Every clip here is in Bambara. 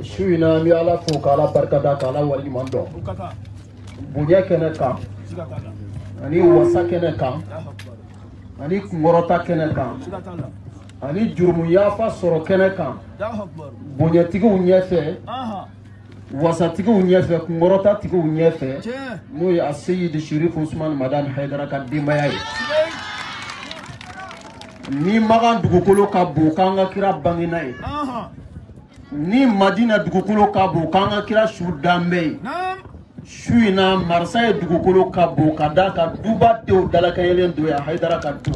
su in na an bɛ ala fo ka ala barikada ka ala waleɲuman dɔn bonya kɛnɛ kan ani wasa kɛnɛ kan ani kunkɔrɔta kɛnɛ kan ani jurumuyafa sɔrɔ kɛnɛ kan bonyatigiw ɲɛfɛ wasatigiw ɲɛfɛ kunkɔrɔta tigiw ɲɛfɛ n'o ye a seyidi sherifu usumani madani hayidara ka denbaya ye ni makan dugukolo ka bon k'an ka kira bangena yen ni madina dugukolo ka bon k'an ka kira su dalen bɛ yen su in na mariseyi dugukolo ka bon ka d'a kan dubadenw dalakɛɲɛlen don yan hayidara ka du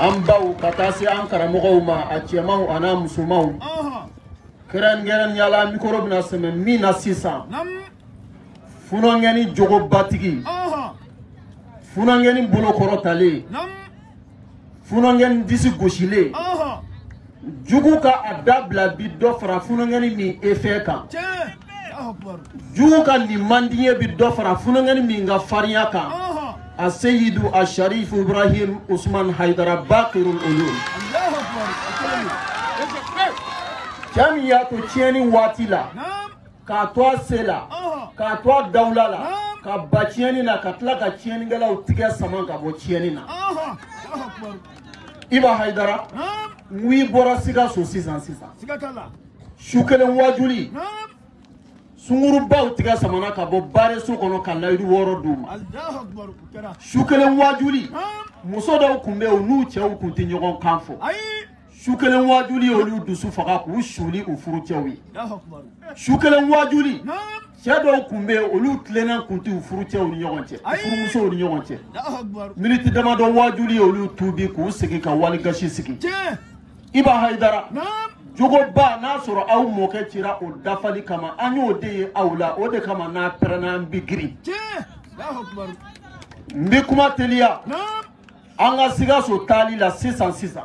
an baw ka taa se an karamɔgɔw ma a cɛmanw an'a musomanw kɛrɛnkɛrɛnnenya la mikoro bɛna sɛmɛ min na sisan funɔnkɛni jogobatigi funɔnkɛni bolokɔrɔtalen funɔnkɛni disi gosilen jugu ka a dabila bi dɔ fara funɔnkɛni min efɛ kan jugu ka nin man di n ye bi dɔ fara funɔnkɛni min ka farinya kan a seyidu a sharif ibrahim usman haidara bakirul ulum cɛ min y'a to tiɲɛni waati la k'a to a se la k'a to a dawula la ka ban tiɲɛni na ka tila ka tiɲɛnikɛlaw tigɛ sama ka bɔ tiɲɛni na iba hayidara n'i bɔra sikaso sisan sisan su kelen waajuli sungurunbaw tigɛ samana ka bɔ bareso kɔnɔ ka layidu wɔɔrɔ d'u ma su kelen waajuli muso dɔw tun bɛ yen u n'u cɛw tun tɛ ɲɔgɔn kan fɔ su kelen waajuli olu dusu faga k'u suuli u furucɛw ye su kelen waajuli cɛ dɔw tun bɛ yen olu tilennen tun tɛ u furucɛw ni ɲɔgɔn cɛ u furumusow ni ɲɔgɔn cɛ miniti damadɔ waajuli ye olu tuubi k'u sigi ka wali gasi sigi iba hayidara jogoba n'a sɔrɔ aw mɔkɛ cira o dafali kama an y'o de ye aw la o de kama n'a pɛrɛnna an bɛ girin n bɛ kuma teliya an ka sikaso taali la sisan sisan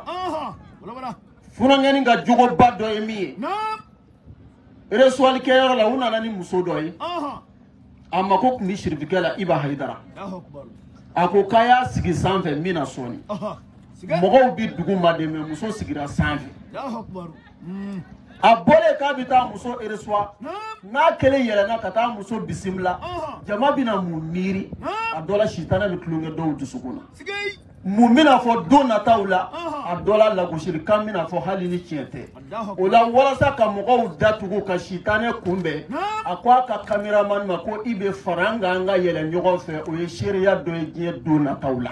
funankɛni ka jogoba dɔ ye min ye eresuwali kɛyɔrɔ la u nana ni muso dɔ ye a mako tun bɛ sirifikɛ la iba hayidara a ko k'a y'a sigi sanfɛ n bɛ na sɔɔni mɔgɔw bɛ duguma dɛ mɛ muso sigira sanfɛ a bɔlen k'a bɛ taa muso eresuwa n'a kelen yɛlɛnna ka taa muso bisimila jama bɛna mun miiri a dɔ la sitanɛ bɛ tulonkɛ dɔw dusukun na mun bɛna fɔ don nataw la a dɔ la lagosilikan bɛna fɔ hali ni tiɲɛ tɛ o la walasa ka mɔgɔw datugu ka sitanɛ kunbɛn a ko a ka kameramani ma ko i bɛ fara an kan an ka yɛlɛ ɲɔgɔn fɛ o ye seereya dɔ ye diɲɛ don nataw la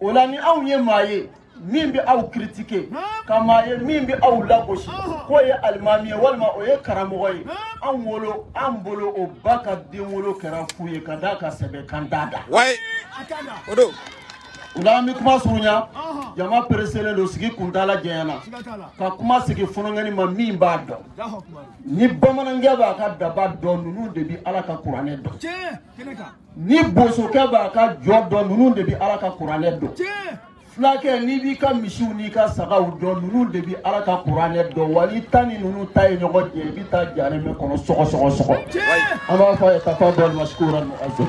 o la ni anw ye maa ye min bɛ aw kiritike ka maa ye min bɛ aw lagosi k'o ye alimami ye walima o ye karamɔgɔ ye an wolo an bolo o ba ka den wolo kɛra fu ye ka d'a ka sɛbɛn kan d'a da wayi o don o la an bɛ kuma surunya jama pereselen don sigi kuntaala janyana ka kuma sigi funankɛnin ma min b'a dɔn ni bamanankɛ b'a ka daba dɔn ninnu de bɛ ala ka kuranɛ dɔn ni bosokɛ b'a ka jɔ dɔn ninnu de bɛ ala ka kuranɛ dɔn fulakɛ n'i b'i ka misiw n'i ka sagaw dɔn ninnu de bɛ ala ka kuranɛ dɔn wa n'i ta ni ninnu ta ye ɲɔgɔn jɛ i bɛ taa jare min kɔnɔ sɔgɔ sɔgɔ sɔgɔ an b'a fɔ a ye tafadali masikuran muazam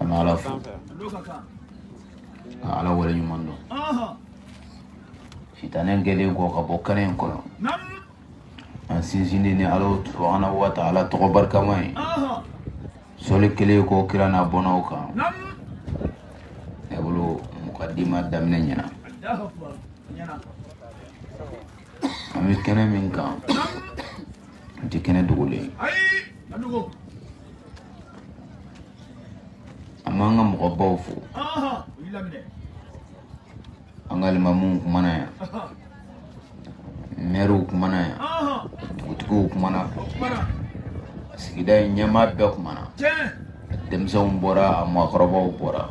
an bɛ ala fo ka ala wale ɲuman dɔn sitanɛ gɛnnen kɔ ka bɔ kɛnɛ in kɔnɔ an sinsinnen ni ala subahana wa taala tɔgɔ barikama ye sɔli kɛlen kɔ kira n'a bɔnnaw kan ne bolo mukadima daminɛ ɲɛna an bɛ kɛnɛ min kan nin tɛ kɛnɛ dogolen ye an b'an ka mɔgɔbaw fo an ka limamuw kumana yan mɛriw kumana yan dugutigiw kumana sigida in ɲɛmaa bɛɛ kumana denmisɛnw bɔra a mɔgɔkɔrɔbaw bɔra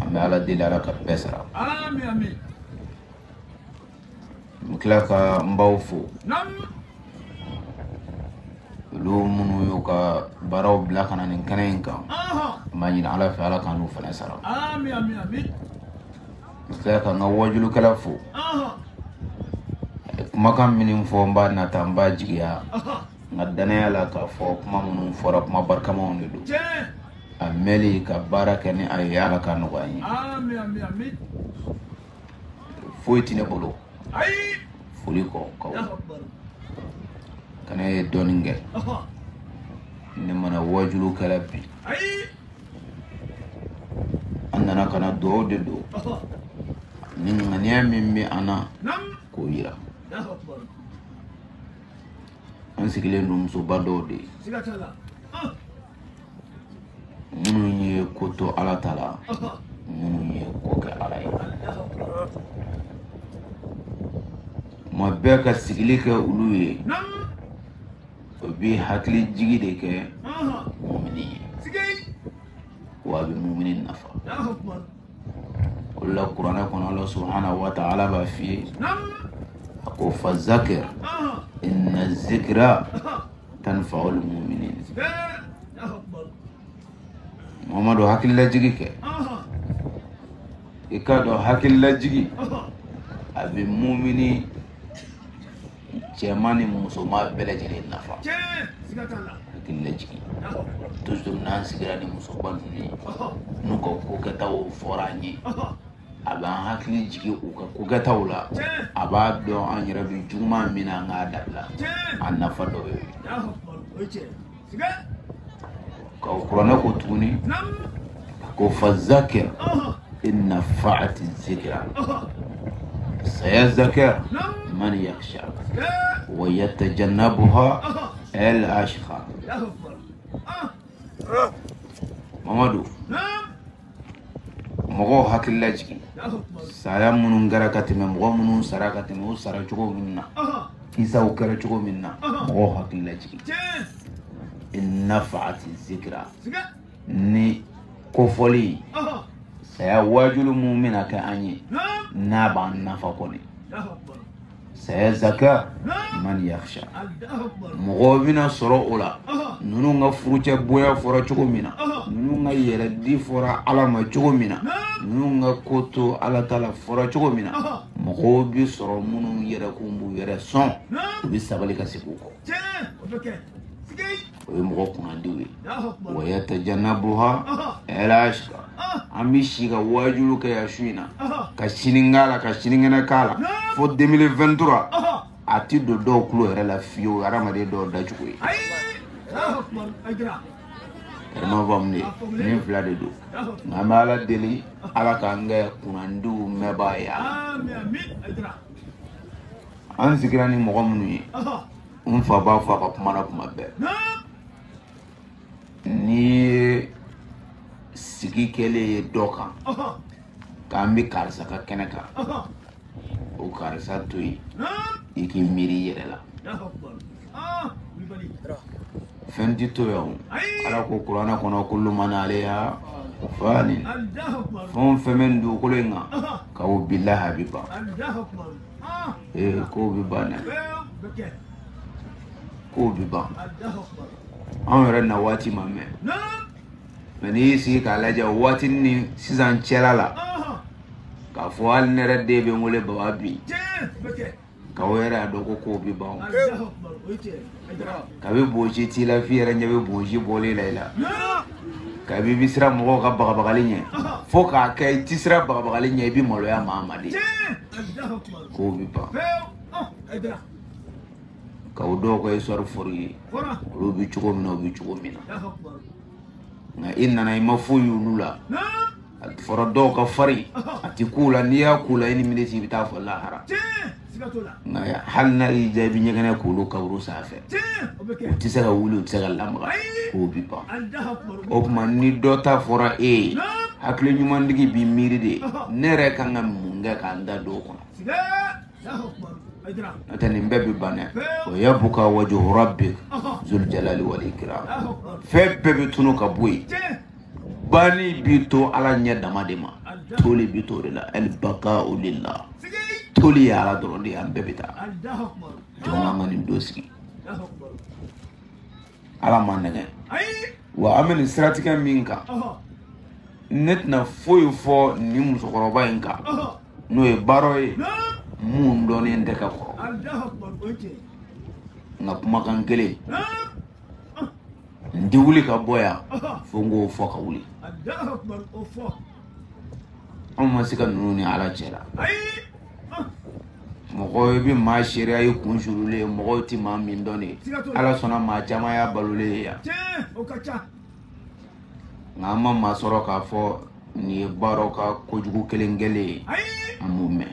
an bɛ ala deli ala ka bɛɛ sara n tila ka n baw fo olu minnu y'u ka baaraw bila ka na nin kɛnɛ in kan n b'a ɲini ala fɛ ala ka ninnu fana sara n tila ka n ka wajulukɛla fo kumakan minnu fɔ n b'a nata n b'a jigiya n ka danaya la k'a fɔ kuma minnu fɔra kuma barikamaw de don a mɛli ka baara kɛ ni a ye ala ka nɔgɔya an ye foyi tɛ ne bolo foli kɔ ka kana ye dɔɔnin kɛ ne ma na wajulu kɛ la bi an nana ka na dugawu de don ani ŋaniya min bɛ an na k'o yira an sigilen don musoba dɔw de ye minnu ye ko to ala ta la minnu ye ko kɛ ala ye ma bɛɛ ka sigili kɛ olu ye o bɛ hakili jigi de kɛ mumini ye wa a bɛ mumini nafa o la kuranɛ kɔnɔ ala subahanahu wa taala b'a f'i ye a ko fa zakir inna zikira tanfa'ul mu'minin mamadu hakililajigi kɛ i k'a dɔn hakililajigi a bɛ mumini cɛman ni musoman bɛɛ lajɛlen nafa hakililajigi toujours n'an sigira ni musoba ninnu ye n'u ka ko kɛtaw fɔra an ye a b'an hakili jigin u ka kokɛtaw la a b'a dɔn an yɛrɛ bɛ juguman min na an k'a dabila a nafa dɔ ye ka o kuranɛ ko tuguni ko fa zakir in nafaati zikira saya zakir man yaksha wa yatajannabuha el ashqa mamadu mɔgɔw hakili lajigin saya minnu kɛra ka tɛmɛ mɔgɔ minnu sara ka tɛmɛ o sara cogo min na kisaw kɛra cogo min na mɔgɔw hakili lajigin in nafaati zikira ni kofɔli saya waajuli min bɛna kɛ an ye n'a b'an nafa kɔni saya zaka man yakhsha mɔgɔ bɛna sɔrɔ o la ninnu ka furucɛ bonya fɔra cogo min na ninnu ka yɛrɛdi fɔra ala ma cogo min na ninnu ka ko to ala ta la fɔra cogo min na mɔgɔw bɛ sɔrɔ minnu yɛrɛkun b'u yɛrɛ sɔn u bɛ sabali ka segin u kɔ o ye mɔgɔ kunnandiw ye wa yatajanabuha ɛlashka an bɛ si ka waajulu kɛ yan su in na ka sini k'a la ka sinikɛnɛ k'a la fo 2023 a ti don dɔw tulo yɛrɛ la fiyewu hadamaden dɔw dacogo ye yɛrɛma faamu de nin fila de don nka an bɛ ala deli ala k'an kɛ kunnandiw mɛnbaa ye an sigira ni mɔgɔ minnu ye n fa b'a fɔ a ka kuma na kuma bɛɛ n'i ye sigi kɛlen ye dɔ kan k'an bɛ karisa ka kɛnɛ kan o karisa to yen i k'i miiri i yɛrɛ la fɛn tɛ to yan ala ko kuranɛ kɔnɔ kullu man aleyha fani fɛn o fɛn bɛ nin dugukolo in kan ko bilahi a bɛ ban ee kow bɛ ban dɛ kow bɛ ban anw yɛrɛ na waati ma mɛn mɛ n'i y'i sigi k'a lajɛ o waati ni sisan cɛla la k'a fɔ hali ne yɛrɛ den bɛ n wele baba bi k'aw yɛrɛ y'a dɔn ko kow bɛ ban o kabi bonsi t'i la f'i yɛrɛ ɲɛ bɛ bonsi bɔlen la i la kabi i bɛ siran mɔgɔw ka bagabagali ɲɛ fo k'a kɛ i ti siran bagabagali ɲɛ i bɛ maloya maa ma de kow bɛ ban ka o dɔw ka histoire fɔr'i ye olu bɛ cogo min na u bɛ cogo min na nka i nana i ma foyi y'olu la a fɔra dɔw ka farin a tɛ k'u la n'i y'a k'u la i ni miniti i bɛ taa fo lahara nka hali n'a y'i diya i bɛ ɲɛgɛnɛ k'olu kaburu sanfɛ u tɛ se ka wuli u tɛ se ka lamaga kow bi ban o tuma ni dɔ ta fɔra e ye hakili ɲuman tigi b'i miiri de ne yɛrɛ kan ka mun kɛ ka n ta don o kɔnɔ n'o tɛ nin bɛɛ bɛ ban dɛ wa yabqa wajhu rabbika zul jalali wal ikram fɛn bɛɛ bɛ tunu ka bɔ yen bani bi to ala ɲɛ dama de ma toli bi to de la al baqa'u lillah toli ye ala dɔrɔn de ye an bɛɛ bɛ taa jɔn ka ŋa nin don sigi ala ma nɛgɛ wa an bɛ nin siratigɛ min kan ne tɛna foyi fɔ nin musokɔrɔba in kan n'o ye baro ye mun dɔnnen tɛ ka kɔrɔ nka kumakan kelen n tɛ wuli ka bɔ yan fo n k'o fɔ ka wuli anw ma se ka ninnu ni ala cɛ la mɔgɔ i bɛ maa seereya i kun surulen ye mɔgɔw tɛ maa min dɔn de ye ala sɔnna maa caman y'a balolen ye yan nka an ma maa sɔrɔ k'a fɔ nin ye baro ka kojugu kelen kɛlen ye an m'o mɛn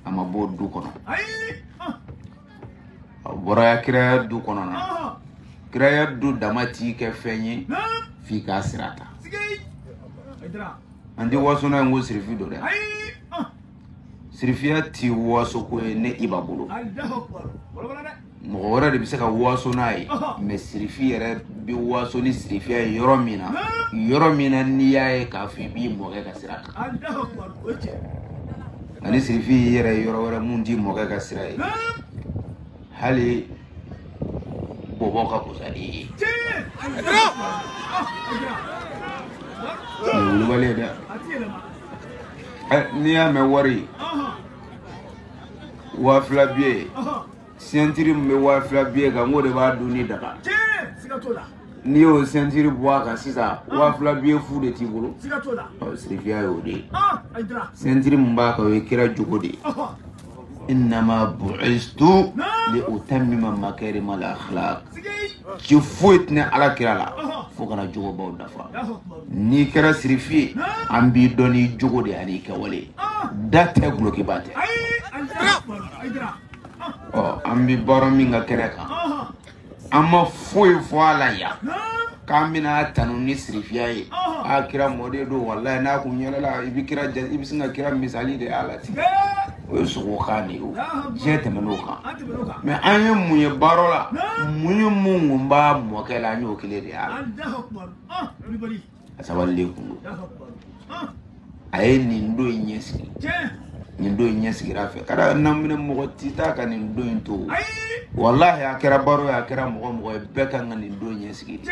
a ma bɔ du kɔnɔ a bɔra kiraya du kɔnɔ na kiraya du dama t'i kɛ fɛn ye f'i k'a sira ta an tɛ waso n'a ye ko sirifi don dɛ sirifiya ti waso ko ye ne iba bolo mɔgɔ wɛrɛ de bɛ se ka waso n'a ye mɛ sirifi yɛrɛ bɛ waso ni sirifiya ye yɔrɔ min na yɔrɔ min na n'i y'a ye k'a fɔ i b'i mɔkɛ ka sira ta ani sirifi y'i yɛrɛ ye yɔrɔ wɛrɛ mun t'i mɔkɛ ka sira ye hali bɔbɔ ka kusa n'i ye nin wulibali ye dɛ n'i y'a mɛn wari waa fila biye sentiri min bɛ waa fila biye kan n k'o de b'a dunni daga n'i y'o sentiri bɔ a kan sisan waa fila biye fu de t'i bolo sirifiya y'o de ye sentiri min b'a kan o ye kira jogo de ye innama bu'istu li utammima makarima al akhlaq ci foyi tɛ ne ala kira la fo ka na jogobaw dafa n'i kɛra sirifi ye an b'i dɔn n'i jogo de an'i kɛwale de a tɛ gulokiba tɛ ɔ an bɛ baro min ka kɛnɛ kan an ma foyi fɔ a la yan k'an bɛn'a tanu ni sirifiya ye a kira mɔden don walayi n'a kun yɛlɛla i bɛ kira ja i bɛ sin ka kira misali de y'a la ten o ye sogo kan de ye o diɲɛ tɛmɛn'o kan mɛ an ye mun ye baro la mun ye mun kun b'a mɔkɛ la an y'o kelen de y'a la a sabalilen kun don a ye nin don in ɲɛ sigi nin don in ɲɛ sigira fɛ ka da naminɛ mɔgɔ ti taa ka nin don in to walahi a kɛra baro ye a kɛra mɔgɔ mɔgɔ ye bɛɛ kan ka nin don ɲɛ sigi de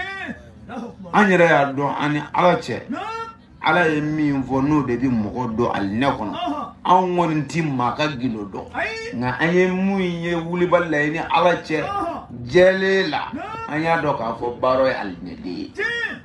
an yɛrɛ y'a dɔn an ni ala cɛ ala ye min fɔ n'o de bɛ mɔgɔ don alijinɛ kɔnɔ anw kɔni tɛ maa ka gindo dɔn nka an ye mun ye wulibali la ye ni ala cɛ jɛlen la an y'a dɔn k'a fɔ baro ye alijinɛden ye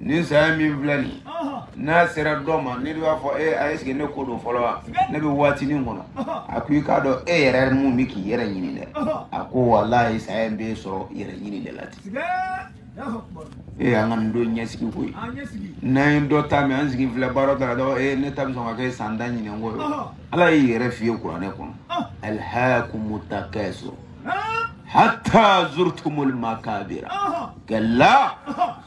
nin saya min filɛ nin n'a sera dɔ ma ne de b'a fɔ e a esike ne ko don fɔlɔ wa ne bɛ waatinin kɔnɔ a ko i k'a dɔn e yɛrɛ mun bɛ k'i yɛrɛ ɲini dɛ a ko walayi saya in b'e sɔrɔ yɛrɛ ɲini de la ten ee an ka nin don ɲɛsigi ko ye n'an ye dɔ ta mɛn an sigi filɛ baro ta ka dɔn ee ne ta bɛ sɔn ka kɛ san tan ɲinɛn ko ye ala y'i yɛrɛ f'i ye kuranɛ kɔnɔ alhakumu takasur hatta zurtumul makabira kalla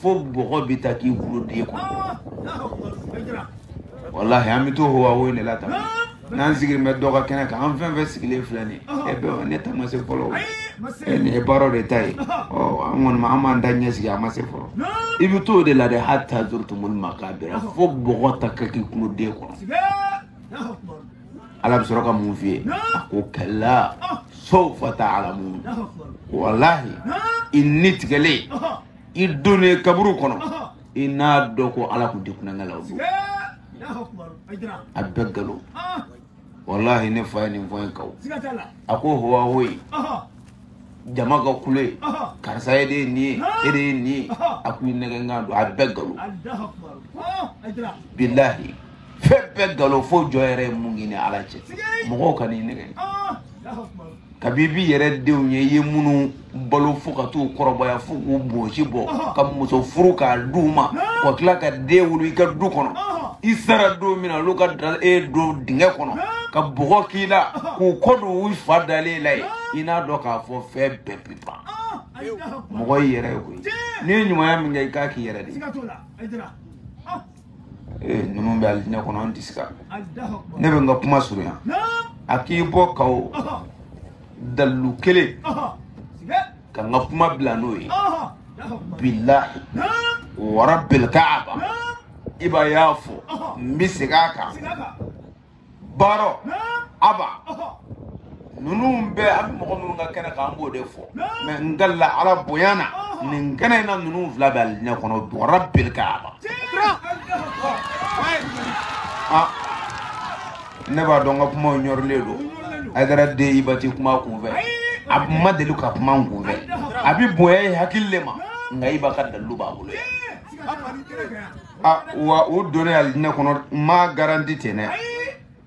fo bɔgɔ bɛ ta k'i kulo den kɔnɔ walahi an bɛ to huwawo in de la tan n'an sigilen bɛ dɔ ka kɛnɛ kan an fɛn fɛn sigilen filɛ nin ye e bɛɛ ne ta ma se fɔlɔ o e nin ye barow de ta ye ɔ an kɔni ma an m'an ta ɲɛ sigi a ma se fɔlɔ i bɛ t'o de la dɛ hatta zurtumul makabira fo bɔgɔ ta ka k'i kulo den kɔnɔ ala bɛ sɔrɔ ka mun f'i ye a ko kalla sawfa ta'lamun walahi i ni tigɛlen i donnen kaburu kɔnɔ i n'a dɔn ko ala kun tɛ kulonkɛ la o don a bɛɛ nkalon walahi ne fa ye nin fɔ n kaw a ko howahoyi jama ka kule karisa e de ye nin ye e de ye nin ye a ko i nɛgɛnkan don a bɛɛ nkalon bilahi fɛn bɛɛ nkalon fo jɔn yɛrɛ ye min ɲini ala fɛ mɔgɔw kan'i nɛgɛn kabi i b'i yɛrɛ denw ye i ye minnu balo fo ka t'u kɔrɔbaya fo k'u bonsi bɔ ka muso furu k'a di u ma ka tila ka den wolo i ka du kɔnɔ i sara don min na olu ka taa e don dingɛ kɔnɔ ka bɔgɔ k'i la k'u kɔ don u fa dalen la yen i n'a dɔn k'a fɔ fɛn bɛɛ bɛ ban mɔgɔ y'i yɛrɛ ye koyi n'i ye ɲumanya min kɛ i k'a k'i yɛrɛ de ye ee ninnu bɛ alijinɛ kɔnɔ an tɛ se ka ne bɛ n ka kuma surunya a k'i bɔ ka o dalilu kelen ka n ka kuma bila n'o ye bilahi wa rabbil kaaba iba y'a fɔ n bɛ segin a kan baaro aba ninnu bɛɛ an bɛ mɔgɔ minnu ka kɛnɛ kan an b'o de fɔ mɛ n kalila ala bonya na nin kɛnɛ in na ninnu fila bɛ alijinɛ kɔnɔ wa rabbil kaaba ah ne b'a dɔn n ka kumaw ɲɔrilen don ayidara den iba tɛ kuma kunfɛ a ma deli ka kuma kunfɛ a bɛ bonya i hakili le ma nka iba ka dalilu b'a bolo yan ah, wa o donni alijinɛ kɔnɔ ma garanti ten dɛ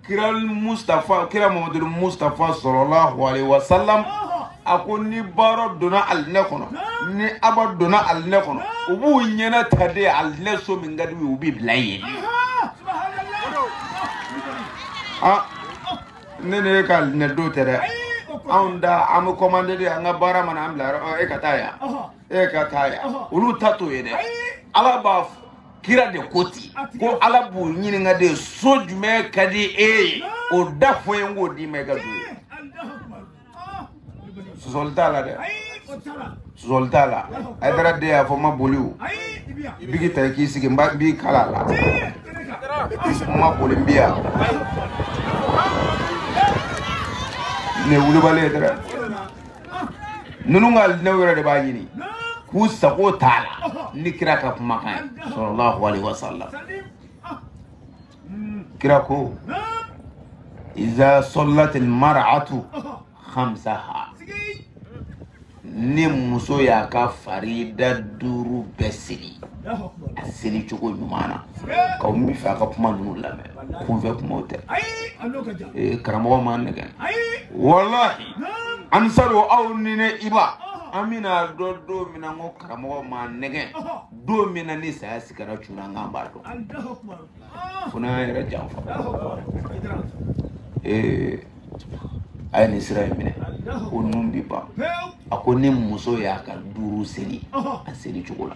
kira mustafa kira mamadu mustafa salalahu alayhi wa salam a ko ni baara donna alijinɛ kɔnɔ ni aba donna alijinɛ kɔnɔ u b'u ɲɛnata de alijinɛ so min ka di u bɛ bila yen ah ne ne ka alijinɛ don tɛ dɛ anw ta an bɛ kɔmande de an ka baara mana an bila yɔrɔ e ka taa yan e ka taa yan olu ta t'o ye dɛ ala ka kira de ko ten ko ala b'u ɲininka de so jumɛn ka di e ye o da fɔ n ye n k'o d'i ma i ka don yen sɔsɔli t'a la dɛ sɔsɔli t'a la ayidara den y'a fɔ n ma boli o biki ta i k'i sigi n b'a n b'i kalan a la n ma boli n bi yan nin ye wulibali ye dɛrɛ ninnu ka alijinɛ yɛrɛ de b'a ɲini k'u sago t'a la ni kira ka kumakan ye salalahu alaihi wasallam kira ko iza sallatil mar'atu khamsaha ni muso y'a ka farida duuru bɛɛ seli a seli cogo ɲuman na k'aw n b'a fɛ a ka kuma ninnu lamɛn kunfɛ kumaw tɛ ee karamɔgɔ m'an nɛgɛn walahi ansaru aw ni ne iba an bɛn'a dɔn don min na ko karamɔgɔ m'an nɛgɛn don min na ni saya sakara cunna an kan an b'a dɔn fo n'an yɛrɛ janfa ee a ye nin sira in minɛ ko ninnu bɛ ban a ko ni muso y'a ka duuru seli a seli cogo la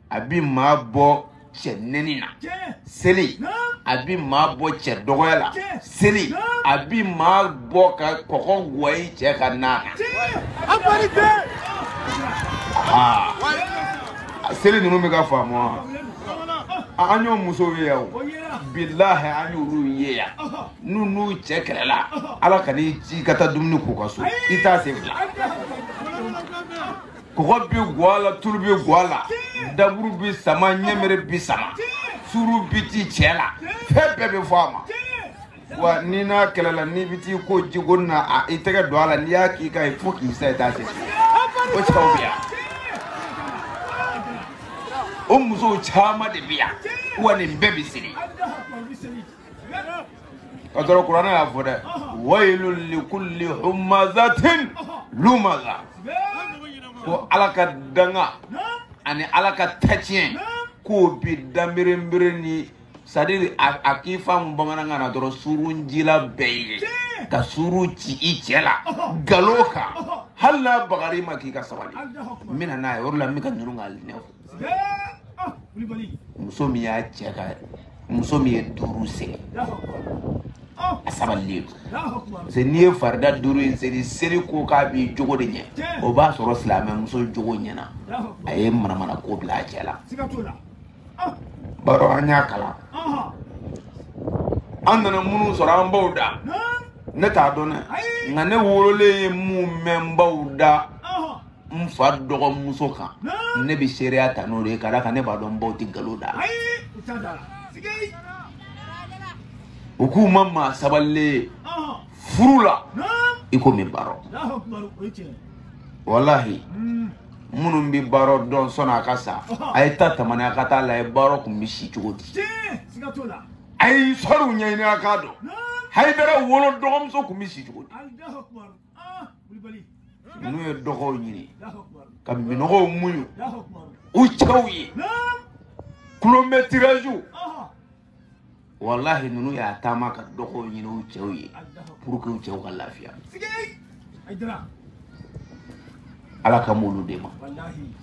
a bɛ maa bɔ cɛ nɛni na seli a bɛ maa bɔ cɛ dɔgɔya la seli a bɛ maa bɔ ka kɔgɔ guwa i cɛ ka na na seli ninnu bɛ k'a faamu wa an y'o musow ye yan o bilahi an y'olu ye yan n'u n'u cɛ kɛlɛla ala kan'i ci ka taa dumuni k'u ka so i t'a se fila kɔgɔ bi guwa la tulu bi guwa la daburu bi sama ɲɛmere bi sama suru bi ti cɛ la fɛn bɛɛ bɛ fɔ a ma wa n'i n'a kɛlɛla n'i bɛ t'i ko jigoni na a i tɛgɛ don a la n'i y'a k'i kan ye fo k'i sa i t'a se o cɛw bɛ yan o musow caman de bɛ yan wa nin bɛɛ bɛ seri ka sɔrɔ kuranɛ y'a fɔ dɛ wayilun likuli humazatin lumaza ko ala ka danga ani ala ka tatiɲɛ k'o bi danberenbere ni sadiri a k'i faamu bamanankan na dɔrɔn suruncila bɛɛ ye ka surun ci i cɛ la galo kan hali n'a bagari ma k'i ka sabali n bɛna n'a ye o de la n bɛ ka ninnu ka muso min y'a cɛ ka muso min ye duuru seri a sabalilen parce que n'i ye farida duuru in seli seli ko k'a b'i jogo de ɲɛ o b'a sɔrɔ silamɛ muso jogo ɲɛna a ye manamana ko bila a cɛ la baro an y'a kalan an nana minnu sɔrɔ an baw da ne t'a dɔn dɛ nka ne wololen ye min mɛn n baw da n fa dɔgɔmuso kan ne bɛ seereya ta n'o de ye ka d'a kan ne b'a dɔn n baw tɛ nkalon da u k'u ma maa sabalilen ye furu la i ko min baro walahi minnu bɛ baro dɔn sanni a ka sa a ye taa tamani a ka taa a lajɛ baro tun bɛ si cogo di a ye sɔriw ɲɛɲini a k'a dɔn hayidara wolo dɔgɔmuso tun bɛ si cogo di ninnu ye dɔgɔw ɲini ka minnɔgɔw muɲu u cɛw ye kilomɛtiraziw walahi ninnu y'a taama ka dɔgɔw ɲini u cɛw ye pour que u cɛw ka lafiya ala kan b'olu de ma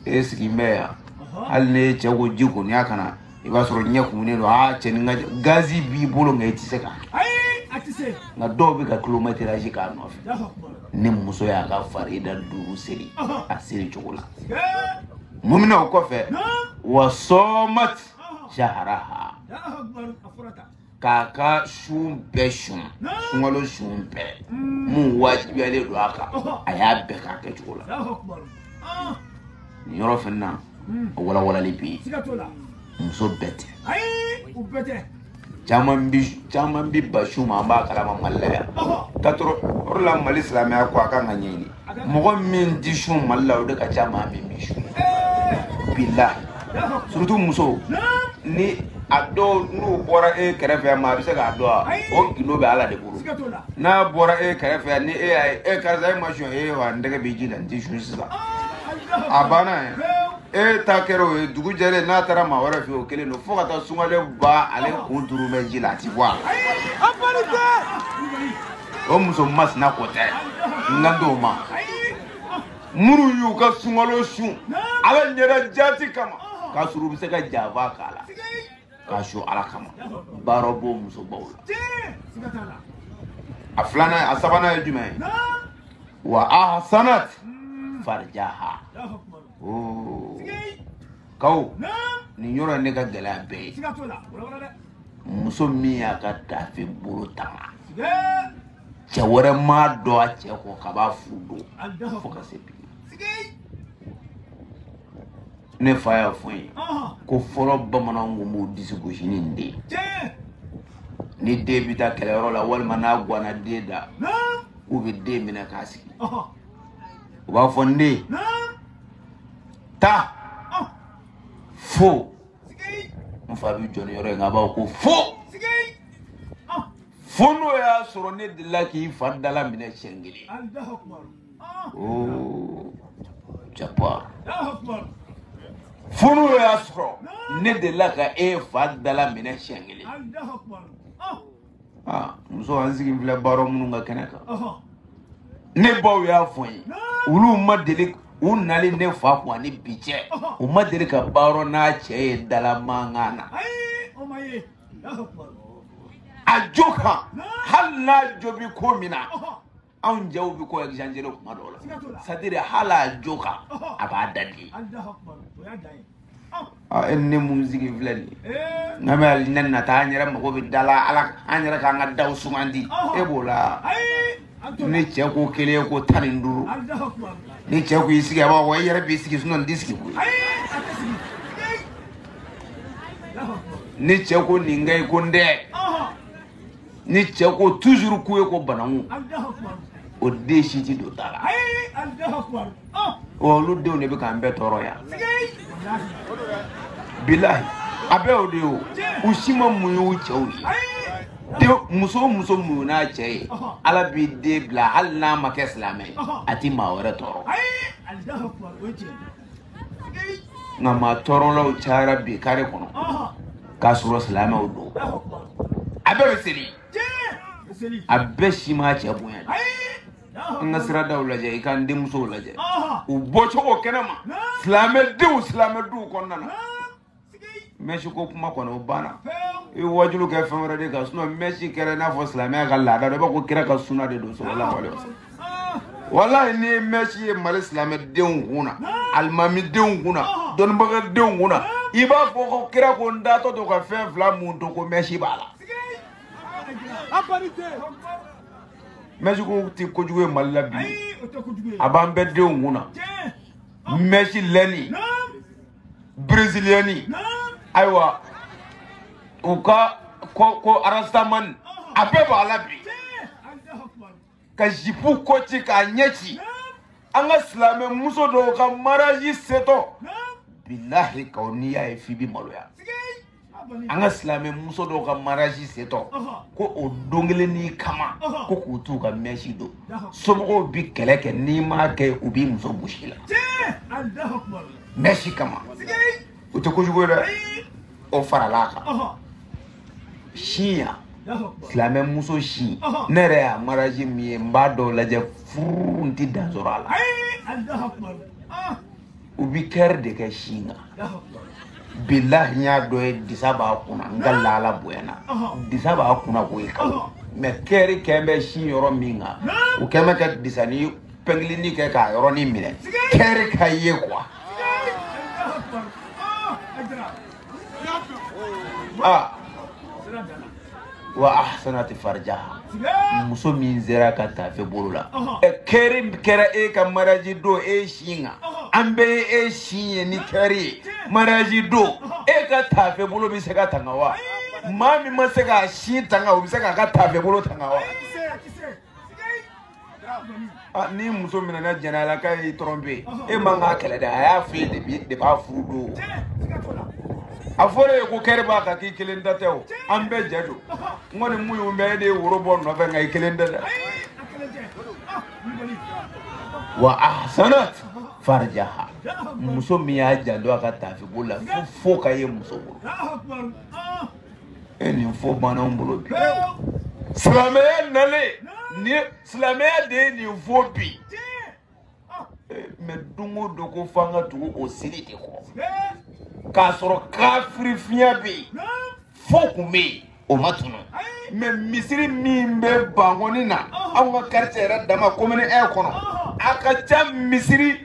e sigilen bɛ yan hali n'e cɛ ko ji goniya ka na i b'a sɔrɔ ɲɛ kumunen don aa cɛ ni ka gazi b'i bolo nka i tɛ se ka nka dɔw bɛ ka kilomɛtirazi k'a nɔfɛ ni muso y'a ka farida duuru seri a seri cogo la mun bɛna o kɔfɛ wa sɔɔmati saharaha k'a ka sun bɛɛ sun sunkalo sun bɛɛ mun wajibiyalen don a kan a y'a bɛɛ k'a kɛcogo la nin yɔrɔ fɛnɛ na a walawalali bɛ yen muso bɛɛ tɛ caman bi caman bi b'a sun ma an b'a kalama mali la yan katɔrɔ o de la mali silamɛya ko a kan ka ɲɛɲini mɔgɔ min tɛ sun mali la o de ka ca maa min bɛ sun bilahi surtout muso ni a dɔw n'u bɔra e kɛrɛfɛ yan maa a bɛ se k'a dɔn wa o gindo bɛ ala de bolo n'a bɔra e kɛrɛfɛ yan ni e y'a ye e karisa e ma sun e wa n tɛgɛ bi ji la n tɛ sun sisan a banna yɛrɛ e ta kɛra o ye dugu jɛlen n'a taara maa wɛrɛ fɛ o kelen don fo ka taa sunkalo ban ale kun turu bɛ ji la a ti bɔ a la. o muso masina ko tɛ n kan t'o ma minnu y'u ka sunkalo sun ala ɲɛda jaati kama k'a sɔrɔ u bɛ se ka janfa k'a la k'a sun ala kama baro b'o musobaw la a filanan a sabanan ye jumɛn ye wa ahasanat farijaha oo kaw nin yɔrɔ de ka gɛlɛn a bɛɛ ye muso min y'a ka tafe bolo tanga cɛ wɛrɛ m'a dɔn a cɛ kɔ kab'a furu don fo ka se bi ne fa y'a fɔ n ye ko fɔlɔ bamananw kun b'u disi gosi ni nin de ye ni den bɛ taa kɛlɛyɔrɔ la walima n'a guwanna den da k'u bɛ den minɛ k'a sigi u b'a fɔ n den taa fo n fa bɛ jɔ nin yɔrɔ ye nka a b'a fɔ ko fo fo n'o y'a sɔrɔ ne delila k'i fa dalaminɛ siɲɛ kelen ooo jaba fo n'o y'a sɔrɔ ne delila ka e fa dalaminɛ siɲɛ kelen. aa muso an sigi filɛ baro minnu ka kɛnɛ kan ne baw y'a fɔ n ye olu ma deli u nali ne fa kun ani bi cɛ u ma deli ka baro n'a cɛ ye dala mankan na a jo kan hali n'a jo bi ko min na anw jaw bɛ ko exagere kuma dɔw la sadiri hali a jo kan a b'a da di e ne mun sigi filɛ nin ye nka mali nin na ta an yɛrɛ mago bɛ da la ala an yɛrɛ k'an ka daw sumandi e b'o la ni cɛ ko kelen e ko tan ni duuru ni cɛ ko i sigi a b'a fɔ e yɛrɛ b'i sigi sinɔn n t'i sigi koyi ni cɛ ko nin kɛ i ko n tɛ ni cɛ ko toujours k'u ye ko bananku o den si ti don da la wa olu denw de bɛ k'an bɛɛ tɔɔrɔ yan bilahi a bɛɛ o de ye o u si ma muɲu u cɛw ye dɛ muso o muso muɲuna a cɛ ye ala b'i den bila hali n'a ma kɛ silamɛ ye a ti maa wɛrɛ tɔɔrɔ nka maa tɔɔrɔlaw cayara bi kare kɔnɔ k'a sɔrɔ silamɛw don a bɛɛ bɛ seli a bɛɛ si m'a cɛ bonya de an ka siradaw lajɛ i k'an denmusow lajɛ u bɔcogo kɛnɛ ma silamɛdenw silamɛduw kɔnɔna na mɛsi ko kuma kɔni o banna i wajulu kɛ fɛn wɛrɛ de kan sinɔ mɛsi kɛra i n'a fɔ silamɛya ka laada dɔ i b'a ko kira ka suna de don sallallahu alayhi wasallam walayi n'i ye mɛsi ye mali silamɛdenw kun na alimamidenw kun na dɔnnibagadenw kun na i b'a fɔ ko kira ko n taatɔ to ka fɛn fila mun to ko mɛsi b'a la mɛsi ko tɛ kojugu ye mali la bi a b'an bɛɛ denw kun na mɛsi lɛni breziliyɛni ayiwa u ka ko arastamani a bɛɛ b'a la bi ka zipu kɔ ci k'a ɲɛ ci an ka silamɛ muso dɔw ka maraji setɔ bilahi kaw n'i y'a ye f'i bi maloya an ka silamɛ muso dɔw ka maraji setɔ ko o don kelennin kama ko k'u t'u ka mɛsi don somɔgɔw bi kɛlɛ kɛ n'i m'a kɛ u b'i muso bɔsi i la mɛsi kama o tɛ kojugu ye dɛ o farala a kan sisan silamɛ muso sin ne yɛrɛ y'a maraji min ye n b'a dɔw lajɛ furu n ti dan sɔrɔ a la u bi kɛri de kɛ sin kan bilahi n y'a dɔ ye disa b'a kunna nka laala bonyana disa b'a kunna koyi quand même kɛri kɛn bɛ sin yɔrɔ min kan u kɛn bɛ ka disanin pɛngilinin kɛ k'a yɔrɔnin minɛ kɛri ka ye quoi aa wa ahsanati farjaha muso min sera k'a tafe bolo la kɛri kɛra e ka maraji don e sin kan an bɛɛ ye e sin ye ni kɛri ye maraji don e ka tafe bolo bɛ se ka tanga wa maa min ma se k'a sin tanga o bɛ se k'a ka tafe bolo tanga wa Ah, ni muso minɛna jɛnɛya la k'a y'i tɔrɔnpe e man k'a kɛlɛ dɛ a y'a f'e de bi de b'a furu don a fɔra i ye ko kɛri b'a kan k'i kelen ta tɛ o an bɛɛ jɛ don n kɔni muɲu mɛ e de ye woro bɔ nɔfɛ nka i kelen tɛ dɛ wa ahsanat farjaha muso min y'a janto a ka tafe bolo la fo ka ye muso bolo e nin fɔ banna anw bolo bi silamɛya nalen ni silamɛya de ye nin fɔ bi mɛ don o don ko f'an ka tugu o siri de kɔ k'a sɔrɔ kafiri fiɲɛ bɛ yen fo kun bɛ yen o ma tunu mɛ misiri min bɛ bankɔni na anw ka quartier yɛrɛ dama commune un kɔnɔ a ka ca misiri.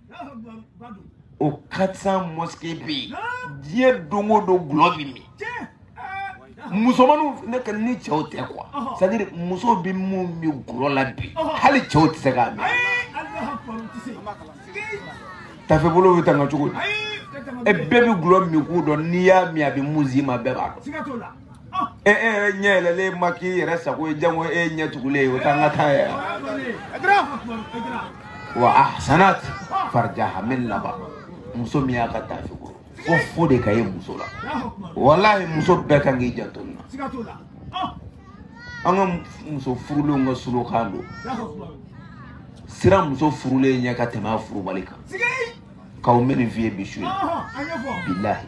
o quatre cents mosquées bɛ yen diɲɛ don o don dɔlɔ bɛ min musomaninw ne ka ni cɛw tɛ quoi c'est à dire musow bɛ mun min dɔlɔ la bi hali cɛw tɛ se k'a min tafe bolo bɛ tanga cogo di e bɛɛ bɛ dɔlɔ min ko dɔn n'i y'a min a bɛ mun s'i ma bɛɛ b'a dɔn. e e yɛrɛ ɲɛ yɛlɛlen ma k'i yɛrɛ sago ye janko e ɲɛ tugulen ye o t'an ka taa yɛrɛ wa ahsanat farjaha min laban muso min y'a ka tafe kɔrɔ fo fo de ka ye muso la walahi muso bɛɛ kan k'i janto nin na an ka muso furulenw ka slogan don siran muso furulen ɲɛ ka tɛmɛ a furubali kan k'aw mɛ nin f'i ye bi su ye bilahi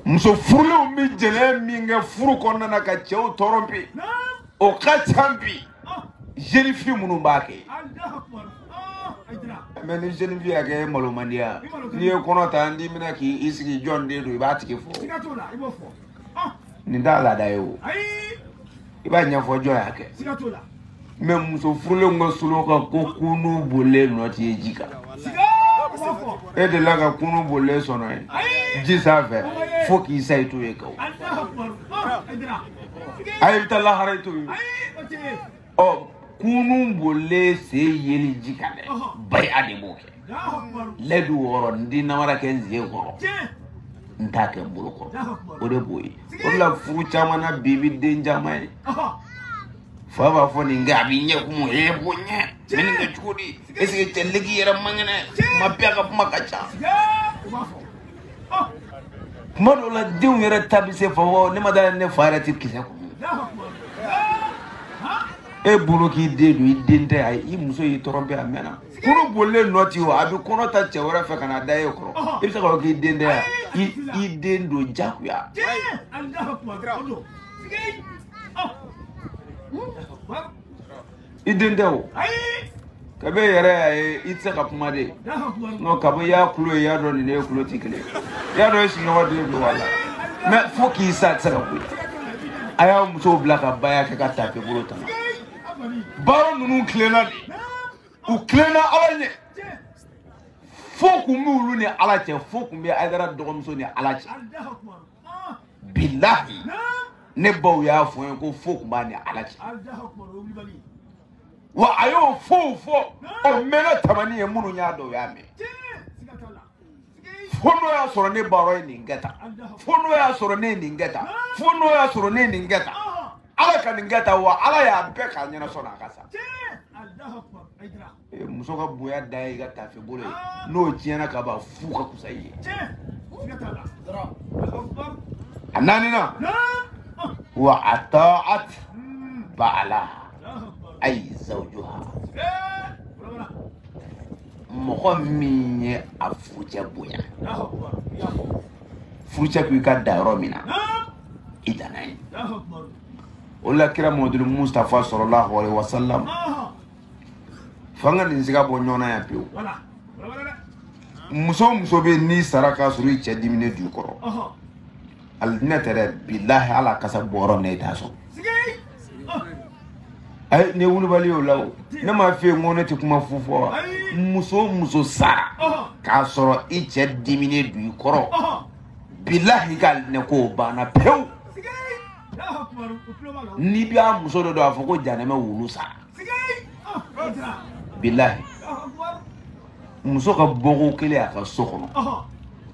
muso furulenw bɛ jɛnɛ min kɛ furu kɔnɔna na ka cɛw tromper o ka ca bi jeune fille minnu b'a kɛ mɛ ni jeune fille y'a kɛ malo man di ya n'i ye kɔnɔ ta n b'i minɛ k'i sigi jɔn den don i b'a tigi fɔ nin t'a laada ye o i b'a ɲɛfɔ jɔn y'a kɛ mɛ muso furulen ka slogan ko kurun bolilen nɔ tɛ ye ji kan e delila ka kurun bolilen sennɔ ye ji sanfɛ fo k'i sa i t'o ye kaw a ye bɛ taa lahara i t'o ye ɔ kurun bolilen sen yeli ji kan dɛ bari a de b'o kɛ lɛdu wɔɔrɔ n di namara kɛ n zie kɔrɔ n t'a kɛ n bolo kɔrɔ o de b'o ye o de la furu caman na bi bi den caman ye fa b'a fɔ nin kɛ a b'i ɲɛ kun e b'o ɲɛ mɛ nin kɛ cogo di eseke cɛ leki yɛrɛ man kɛnɛ kuma bɛɛ a ka kuma ka ca kuma dɔw la denw yɛrɛ ta bɛ se fa fɔ ne ma da ne fa yɛrɛ tɛ kisɛ kun e bolo k'i den don i den tɛ a ye i muso y'i tromper a mɛnna kurun bolilen nɔ tɛ ye o a bɛ kɔnɔ ta cɛ wɛrɛ fɛ ka na da e kɔrɔ i bɛ se k'a fɔ k'i den tɛ yan i i den don jagoya. i den tɛ o kabi e yɛrɛ y'a ye i tɛ se ka kuma de n'o kabi i y'a tulo ye i y'a dɔn nin n'e tulo tɛ kelen i y'a dɔn e sigiɲɔgɔn den don a la mɛ fo k'i sa a tɛ se ka ko ye a y'a musow bila ka ba y'a kɛ ka tafe bolo tanga. baro ninnu tilenna de u tilenna ala ɲɛ fo kun bɛ olu ni ala cɛ fo kun bɛ ayidara dɔgɔmuso ni ala cɛ bilahi ne baw y'a fɔ n ye ko fo kun b'a ni ala cɛ wa a y'o fɔ fo o mɛnna tamani ye minnu y'a dɔn o y'a mɛn fo n'o y'a sɔrɔ ne baro ye nin kɛ tan fo n'o y'a sɔrɔ ne ye nin kɛ tan fo n'o y'a sɔrɔ ne ye nin kɛ tan ala ka nin kɛ tan wa ala y'a bɛɛ k'a ɲɛ na sani a ka sa eh, muso ka bonya dan ye i ka tafe bolo ye n'o tiɲɛna ka ban fu ka kusa i ye a naaninan wa ataat baala ayi zawjuha mɔgɔ min ye a furucɛ bonya furucɛ ko i ka dan yɔrɔ min na i danna yen o la kira mɔduli mustafa salalahu alayihi wasalam fo an ka nin siga bɔ ɲɔgɔn na yan pewu muso o muso bɛ n'i sara k'a sɔrɔ i cɛ diminen don i kɔrɔ alijinɛ tɛ dɛ bilahi ala kasa bɔrɔ ne t'a sɔn ayi ne wulibali y'o la o ne m'a f'i ye n ko ne tɛ kuma fu fɔ wa muso o muso sara k'a sɔrɔ i cɛ diminen don i kɔrɔ bilahi n kalilen k'o banna pewu n'i bɛ a muso dɔ dɔn a fɔ ko janɛmɛ wulu sara bilahi muso ka bɔko kelen a ka so kɔnɔ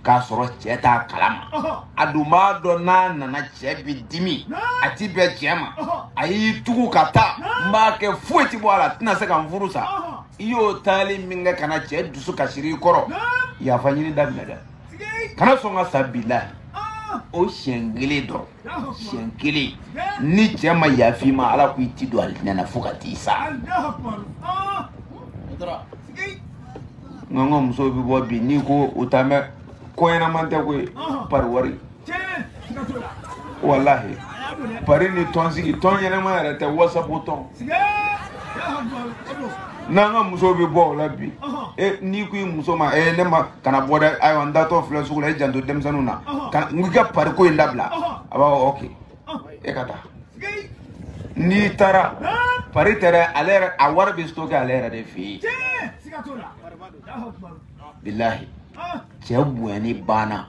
k'a sɔrɔ cɛ t'a kalama a dun b'a dɔn n'a nana cɛ bi dimi a ti bɛn cɛ ma a y'i tugu ka taa n b'a kɛ foyi ti bɔ a la a tɛna se ka n furu sa i y'o taali min kɛ ka na cɛ dusu kasira i kɔrɔ yafa ɲini daminɛ dɛ kana sɔn ka sa bilahi o siɲɛ kelen dɔrɔn siɲɛ kelen ni cɛ ma yaf'i ma ala ko i ti don alijinɛ na fo ka t'i sa nka an ka musow bɛ bɔ bi n'i ko u t'a mɛn ko ɲɛnama tɛ koyi pari wari walahi pari ni tɔnsigi tɔn ɲɛnama yɛrɛ tɛ wasapu tɔn n'an ka musow bɛ bɔ o la bi e n'i ko i muso ma e ne ma kana bɔ dɛ ayiwa n taatɔ filɛ sugu la i janto denmisɛnninw na ka n ka pariko in dabila a b'a fɔ ok e ka taa n'i taara pari tɛ dɛ ale yɛrɛ a wari bɛ stoke ale yɛrɛ de fɛ yen bilahi cɛ bonyani banna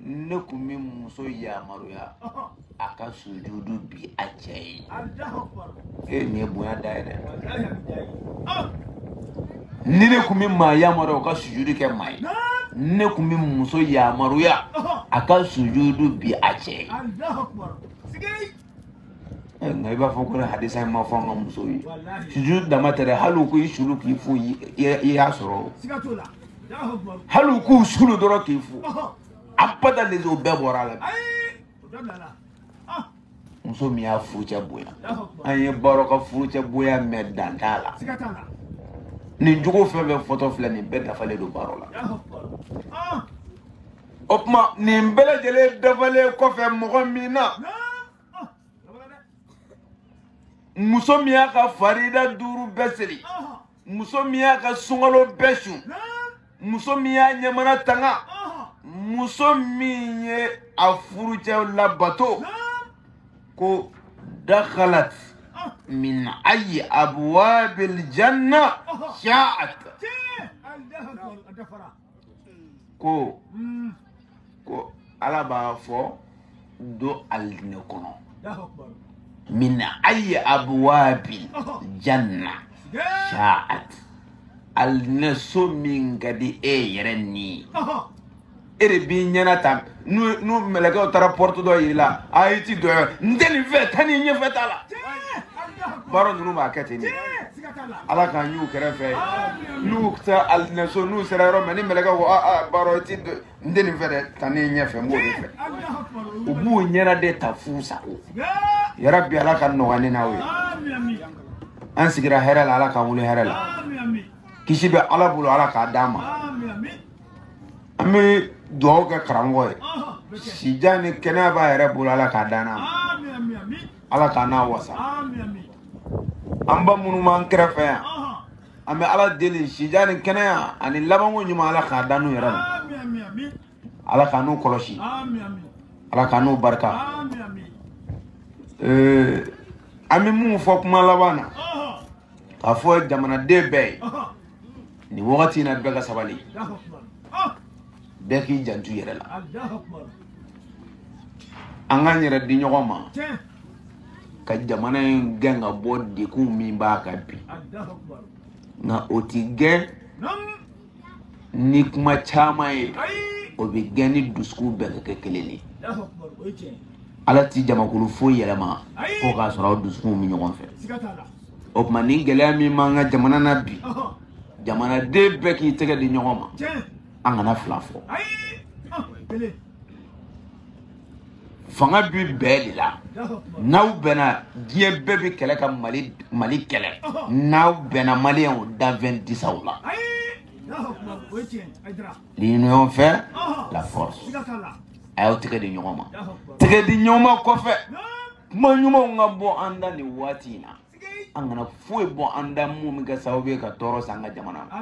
ne kun bɛ muso yamaruya a ka sujudu bin a cɛ ye e ye nin ye bonya dan ye dɛ ni ne kun bɛ maa yamaruya o ka sujudu kɛ maa ye ne kun bɛ muso yamaruya a ka sujudu bin a cɛ ye Eh, nka i b'a fɔ ko hadisa in ma fɔ an ka muso ye sujud dama tɛ dɛ hali u k'i sulu k'i fo i y'a sɔrɔ hali u k'u sulu dɔrɔn k'i fo abada les o bɛɛ bɔra a la ah. muso min y'a furucɛ bonya an ye Baro ka furucɛ bonya mɛn dan t'a la nin jogo fɛn bɛɛ fɔtɔ filɛ nin bɛɛ dafalen don Baro la ah. o tuma nin bɛɛ lajɛlen dafalen kɔfɛ mɔgɔ min na muso min y'a ka farida duuru bɛɛ seli muso min y'a ka sunkalo bɛɛ sun muso min y'a ɲɛmana tanga muso min ye a furucɛ labato ko dakhalat min ayi abwabil janna sha'at ko ko ala b'a fɔ don alijinɛ kɔnɔ min ayi abwabil janna sha'at alijinɛ so min ka di e yɛrɛ ni e de b'i ɲɛna ta n'u n'u mɛlɛkɛw taara pɔrɔti dɔ yira a la a i ti don n tɛ nin fɛ taa nin ɲɛfɛ t'a la Baro ninnu b'a kɛ ten de ala k'an y'u kɛrɛfɛ n'u ka taa alijinɛso n'u sera yɔrɔ min ni mɛlɛkɛ ko a a Baro i ti don n tɛ nin fɛ dɛ taa nin ɲɛfɛ n b'o de fɛ u b'u ɲɛna de ta f'u sago ya rabi ala k'a nɔgɔya ne n'aw ye an sigira hɛrɛ la ala k'an wuli hɛrɛ la kisi bɛ ala bolo ala k'a d'an ma an bɛ dugawu kɛ karamɔgɔ ye sijan ni kɛnɛya b'a yɛrɛ bolo ala k'a d'an n'a ma ala k'an n'a wasa an ba minnu b'an kɛrɛfɛ yan an bɛ ala deli sijan ni kɛnɛya ani labanko ɲuman ala k'a d'an n'u yɛrɛ ma ala k'an n'u kɔlɔsi ala k'an n'u barika an bɛ mun fɔ kuma laban na k'a fɔ jamanaden bɛɛ ye nin wagati in na bɛɛ ka sabali bɛɛ k'i janto i yɛrɛ la an k'an yɛrɛ di ɲɔgɔn ma ka jamana in gɛn ka bɔ dɛgun min b'a kan bi nka o ti gɛn ni kuma caman ye o bɛ gɛn ni dusukun bɛɛ ka kɛ kelen de ye ala ti jamakulu foyi yɛlɛma fo k'a sɔrɔ aw dusukunw bɛ ɲɔgɔn fɛ o tuma ni gɛlɛya min b'an ka jamana na bi jamanaden bɛɛ k'i tɛgɛ di ɲɔgɔn ma an kana fila fɔ fanga bi bɛn de la n'aw bɛnna diɲɛ bɛɛ bɛ kɛlɛ ka mali kɛlɛ n'aw bɛnna maliyɛnw danfɛn ti s'aw la l'union fait la force a y'aw tɛgɛ di ɲɔgɔn ma tɛgɛ di ɲɔgɔn ma kɔfɛ kuma ɲumanw ka bɔ an da nin waati in na an kana foyi bɔ an da mun bɛ kɛ sababu ye ka tɔɔrɔ se an ka jamana na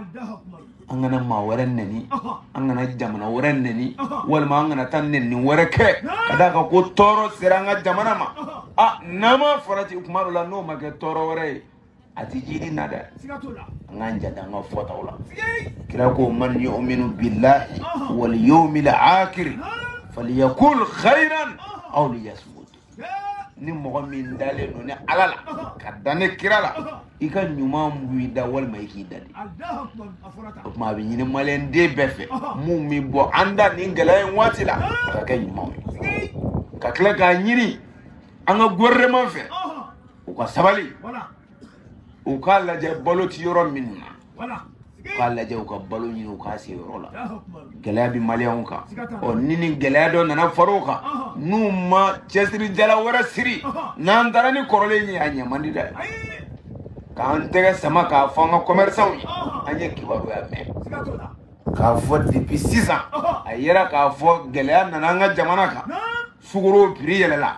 an kana maa wɛrɛ nɛni an kana jamana wɛrɛ nɛni walima an kana taa nɛni wɛrɛ kɛ ka d'a kan ko tɔɔrɔ sera an ka jamana ma a n'an ma farati kuma dɔ la n'o ma kɛ tɔɔrɔ wɛrɛ ye a tɛ jiri na dɛ an k'an janto an ka fɔtaw la kira ko man yu'minu billahi wal yawmil akhir falyakul khayran aw liyasmut ni mɔgɔ min dalen don ni ala la ka da ni kira la i ka ɲuman bɔ i da walima i k'i dade o tuma a bɛ ɲini maliyɛnden bɛɛ fɛ mun bɛ bɔ an da nin gɛlɛya in waati la ka kɛ ɲumanw ye ka tila k'a ɲini an ka gouvernement fɛ u ka sabali u k'a lajɛ balo ti yɔrɔ minnu na u k'a lajɛ u ka balo ɲini u k'a se yɔrɔ la gɛlɛya bɛ maliyɛnw kan ɔ ni nin gɛlɛya dɔ nana far'o kan n'u ma cɛsiri jala wɛrɛ siri n'an taara ni kɔrɔlen ye a ɲɛ man di dɛ k'an tɛgɛ sama k'a fɔ an ka kɔmɛrisanw ye an ye kibaruya mɛn k'a fɔ depuis sisan a yera k'a fɔ gɛlɛya nana an ka jamana kan sukoro piri yɛlɛla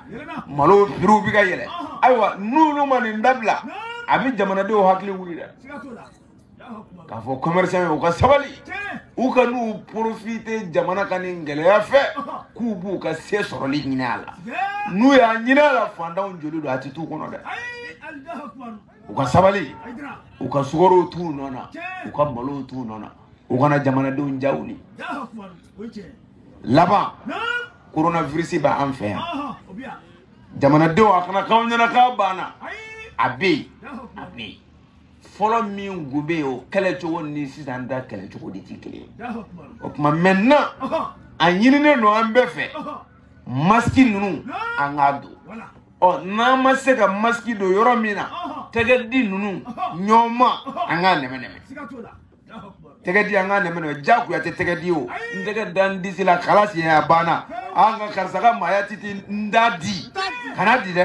malo piriw bɛ ka yɛlɛ ayiwa n'olu ma nin dabila a bɛ jamanadenw hakili wuli dɛ k'a fɔ commerçantw ye u ka sabali u kan'u profiter jamana ka nin gɛlɛya fɛ k'u b'u ka se sɔrɔli ɲini a la n'u y'a ɲini a la fantanw joli don a tɛ t'u kɔnɔ dɛ u ka sabali u ka sukorow t'u nɔ na u ka malow t'u nɔ na u kana jamanadenw ja wuli laban coronavirus bɛ an fɛ yan jamanadenw a kana k'aw ɲɛna k'a banna a bɛ yen a bɛ yen fɔlɔ min kun bɛ yen o kɛlɛ cogo ni sisan ta kɛlɛ cogo de tɛ kelen ye o tuma maintenant a ɲininen don an bɛɛ fɛ masiki ninnu an k'a don ɔ n'an ma se ka masiki don yɔrɔ min na tɛgɛdi ninnu ɲɔgɔnma an k'a nɛmɛ nɛmɛ tɛgɛdi an k'a nɛmɛ nɛmɛ jagoya tɛ tɛgɛdi o n tɛgɛ da n disi la kalasi a banna an ka karisa ka maaya titi n da di kana di dɛ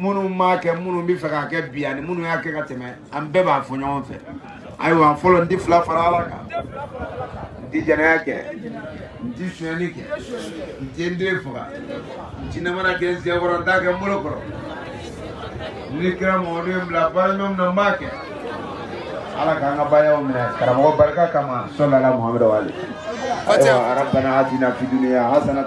minnu m'a kɛ minnu b'a fɛ k'a kɛ bi ani minnu y'a kɛ ka tɛmɛ an bɛɛ b'a fɔ ɲɔgɔn fɛ ayiwa fɔlɔ n tɛ fila fara ala kan n tɛ jɛnɛya kɛ n tɛ sonyɛli kɛ n tɛ n den faga n tɛ namara kɛ n sen kɔrɔ n t'a kɛ n bolo kɔrɔ ni kira mamadu ye n bila baara ɲuman min na n b'a kɛ ala k'an ka baayaw minɛ karamɔgɔ barika kama sɔlala muhamadu wale ayiwa arabana atina fi duniya hasanata